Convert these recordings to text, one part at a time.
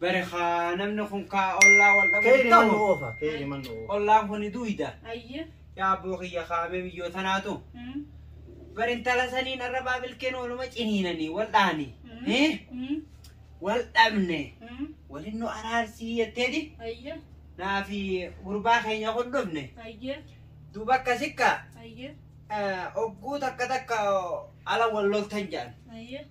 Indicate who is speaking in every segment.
Speaker 1: Bari kaa
Speaker 2: namni kun kaa ollaa wal dhabu Kayri man ta'u. oofa.
Speaker 3: Kayri man oofa. Ollaan kun duuyda.
Speaker 2: Ayye. Yaa
Speaker 1: abboo kiyya
Speaker 2: kaamee biyyoo tanaatu. Mm. Bari intala saniin arrabaa bilkeen ooluma ciniinanii wal dhaani. Mm. Eh? Mm. Wal dhabne. Mm. Walin nu araarsii jetteeti. Ayye.
Speaker 1: Naafi
Speaker 2: gurbaa keenya kun dhufne. Ayye.
Speaker 1: Duuba akka sikka
Speaker 2: Ayye.
Speaker 1: ogguu
Speaker 2: takka takka ala wal loltan jedhan. Ayye.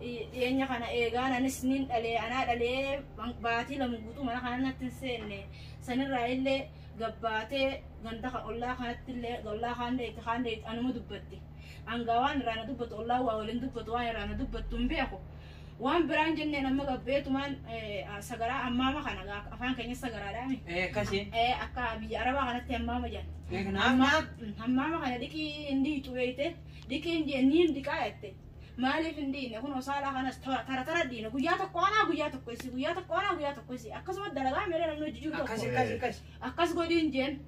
Speaker 1: dhiyeenya kana eegaan anis nin dhalee anaa dhalee baatii lama guutuu mana kana natti hin seenne sanirraa illee gabbaatee ganda kan ollaa kanatti illee ollaa kaan deetti kaan deetti anuma dubbatti hangaa waan irraa na dubbatu ollaa waa waliin dubbatu waan irraa na dubbattu hin beeku waan biraan jenneen amma gabbeetumaan sagaraa ammaama kana afaan keenya sagaraadhaami Akkasii.
Speaker 2: akka biyya
Speaker 1: arabaa kanatti ammaama jedhan Ammaa. ammaama kana dhiqii hin dhiitu beekte dhiqii hin dhiqaa jette Maaliif hin dhiine kunoo saalaa kanas tara tara tara dhiine guyyaa tokko anaa guyyaa tokko isii guyyaa tokko anaa guyyaa tokko isii akkasuma dalagaa meelee namni hojii jiru Akkas tokko akkas akkas. akkas godhin jeen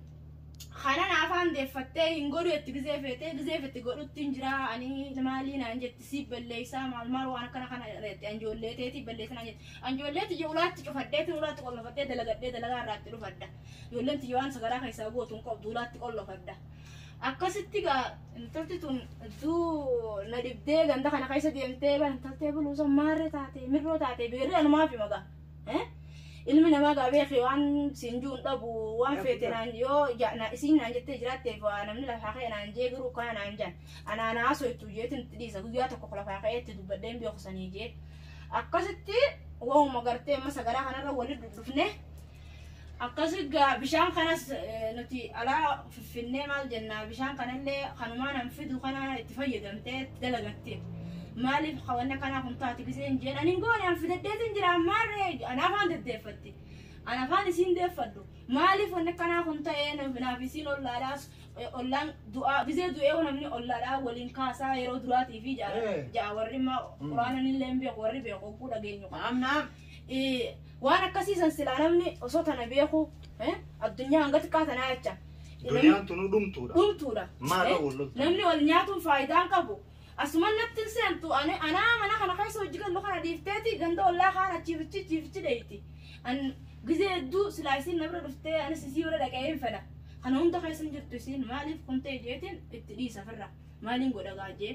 Speaker 1: kanan afaan deeffattee hin godhu itti gizee feetee gizee fetti godhutti hin jira ani maalii naan jetti siif balleessaa maal maal waan akkana kana irratti anjoollee teetii balleessa naan jetti anjoollee tiyya ulaatti cufadheetiin ulaatti qollofadhee dalagadhee dalagaa irraatti dhufadha ijoolleen tiyya waan sagaraa keessaa gootu hin qabdu ulaatti qollofadha Akkasitti gaa intalti tun hedduu na dhibdee ganda kana keessa deemtee gaa intaltee buluusa maarree taate mirroo taate beerri anumaaf hima gaa. Eh? Ilmi namaa gaa beekee waan siin jiru hin dhabu waan feete naan yoo ja- na- isiin naan jettee jiraatteef waa namni lafaa ka'e naan jee garuu kana naan jaan anaa naa soitu jeetin itti dhiisa guyyaa tokko lafaa ka'ee itti dubbadhee hin beeku sanii jee. Akkasitti waanuma gartee amma sagaraa kanarra walitti dhufnee Akkasii gaa bishaan kanas eh, nuti alaa fiffinnee maal jennaa bishaan kanallee kanumaa nan fidu kana itti fayyadamtee itti dalagatte. Maaliif kawanna kanaa kun taati gisee hin jeen anin goone an fidaddeetiin jira ammaarree an afaan deddeeffatti. An afaan isiin deeffadhu. Maaliif wanni kanaa kun ta'ee nuuf- naaf isiin ollaadhaas eh, ollaan du'aa gisee du'ee yoo namni ollaadhaa waliin kaasaa yeroo duraatii fi ja'a Eh. ja'a warri immoo Mm. quraananillee hin beeku warri beeku oguu dhageenyu qaba. Naam naam. Ii, waan akkasii san silaa namni osoo tana beeku eh, addunyaa hanga xiqqaa tanaa jecha namni- Duniyaan tunuu
Speaker 3: dhumtuudha. dhumtuudha. Maal Eh, wal loltan?
Speaker 1: Namni wal nyaatuun faayidaan qabu. Asuman natti hin seentu ani- anaa mana kana keessa hojii gallu kana dhiifteeti ganda ollaa kaan achiifichi achiifichi dheeyti. An gizee hedduu silaa isiin na bira dhuftee anis isii bira dhaqee hin fedha. Kana hunda keessa hin jirtu isiin maaliif kun ta'e jeetiin itti dhiisa firra. Maaliin godha gaajee?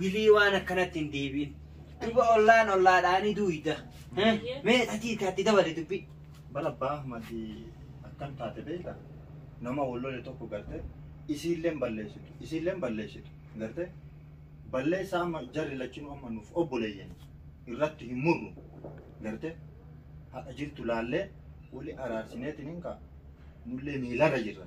Speaker 2: Wly waan akkanatti hin deebiin duba ollaan ollaadhaa ni duuyda mee tatii kaatti dabali dubbi. Bar abbaa ahmadi
Speaker 3: akkam taate beekta nama wal lole tokko garte isiilleen balleessitu isiilleen balleessitu garte balleessaa amma jarri lachinuu amma nuuf obboleeyyan irratti hin murru garte haqa jirtu laallee wali araarsineetiin hin kaa nullee miilarra jirra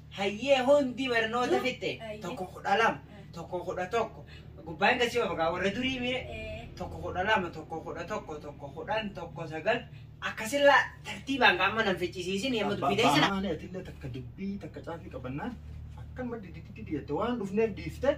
Speaker 2: Hayyee hundi barnoota Nu- fitte Hayyee. tokko kudha lama Eh. tokko kudha tokko gubbaan gasii ofagaa warra durii miire Eh, tokko kudha lama tokko kudha tokko tokko kudhan tokko sagal akkasilla tartiibaan qaama nan ficcisiisin yemma dubbitee sana. Baanaan atillee takka
Speaker 3: dubbii takka caafii qabannaan akkanuma didditti diddiitte waan dhufneef dhiifte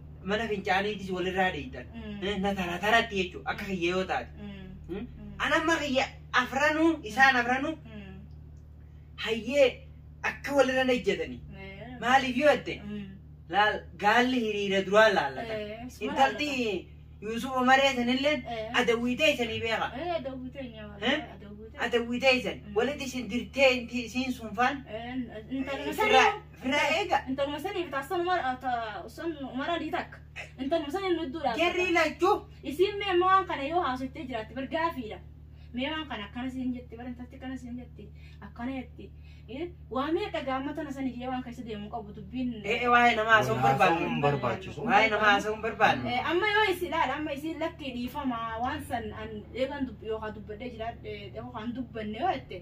Speaker 2: mana fincaaniitis walirraa dheeyxan. Mm. Eh, Na tara taratti jechuudha akka kiyya yoo taate. Mm. Hmm? Mm. An amma kiyya afranuu isaan afranuu Mm. hayyee akka walirra nejjetanii. Eh. Maaliif yoo jette Mm. laal gaalli hiriira duraa laallata. Eh, suma Intalti Yuusuf Umaree sanillee Eh. adawwiitee isanii beeka. Eh, adawwitee nyaama. Eh? Adawwitee. Adawwiitee isan Mm. walitti isin dirtee inti- isiin sunfaan Eh, intalli Sirraa- sirraa. Irraa eega. Intaluma saniif taasisan
Speaker 1: umara sun umara ni takka. Intaluma saniin nudduu dhaabata. Jarri lachuu.
Speaker 2: Isiin mee amma waan
Speaker 1: kana yoo haasoftee jiraatte bar gaafiidha. Mee waan kana akkana siin jetti bar intalti akkana siin jetti akkana jetti. Eh, Waa meeqa gaamma tana saniif yoo waan keessa deemu qabu dubbiin. Ee waa'ee namaa haasa'uun Wal haasa'uun
Speaker 2: barbaanne. barbaachisu. Waa'ee namaa haasa'uun barbaanne. Eh, Amma yoo isin ilaala
Speaker 1: amma isin lakkii dhiifama waan san an eegan dub- yookaan dubbadhee jiraadhe yookaan dubbanne yoo jette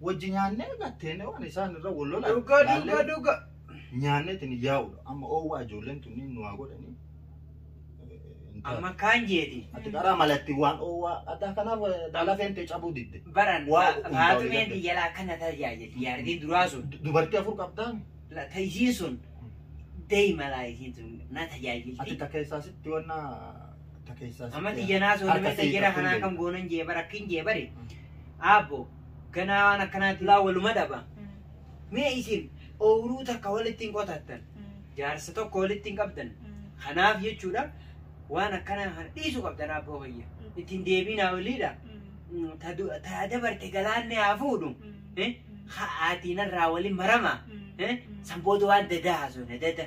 Speaker 3: wajji nyaannee gatteenee waan isaan irra wal lolan Dhuga dhuga laallee dhuga.
Speaker 2: nyaanneetiin
Speaker 3: yaa'udha. Amma oowwaa ijoolleen tunniin nu haa godhanii.
Speaker 2: Amma kaan jeeti. Ati karaa malatti
Speaker 3: waan oowwaa addaa kanaaf dhala feentee cabuu didde. Baran Waa, hundaa'u
Speaker 2: baatumeen eegalte. biyyalaa akkana tajaajilti. Yaardiin duraa sun. Du- Dubartii afur qabdaan
Speaker 3: La- ta- Isiin sun
Speaker 2: deema laa isiin sun na ati tajaajilti. ta keessaa sitti
Speaker 3: wanna ta keessaa sitti. Amma xiyyanaa sun
Speaker 2: Harka nama siif xiyyanaa kanaa akkam jeetu. goonan jeebar akkin jeebari. Aabbo Ganaa waan akkanaa tulaa waluma dhaba. Mee isin ooyiruu takka walitti hin qotattan. Jaarsa tokko walitti hin qabdan. Kanaaf jechuudha waan akkanaa kana dhiisuu qabdan abboo kiyya. Ittiin deebiinaa oliidha. Ta du- ta dabarte galaanni haa fuudhu. Eh? Ha'aatiin irraa waliin marama. Eh? San booda waan dadaa haasofne dada.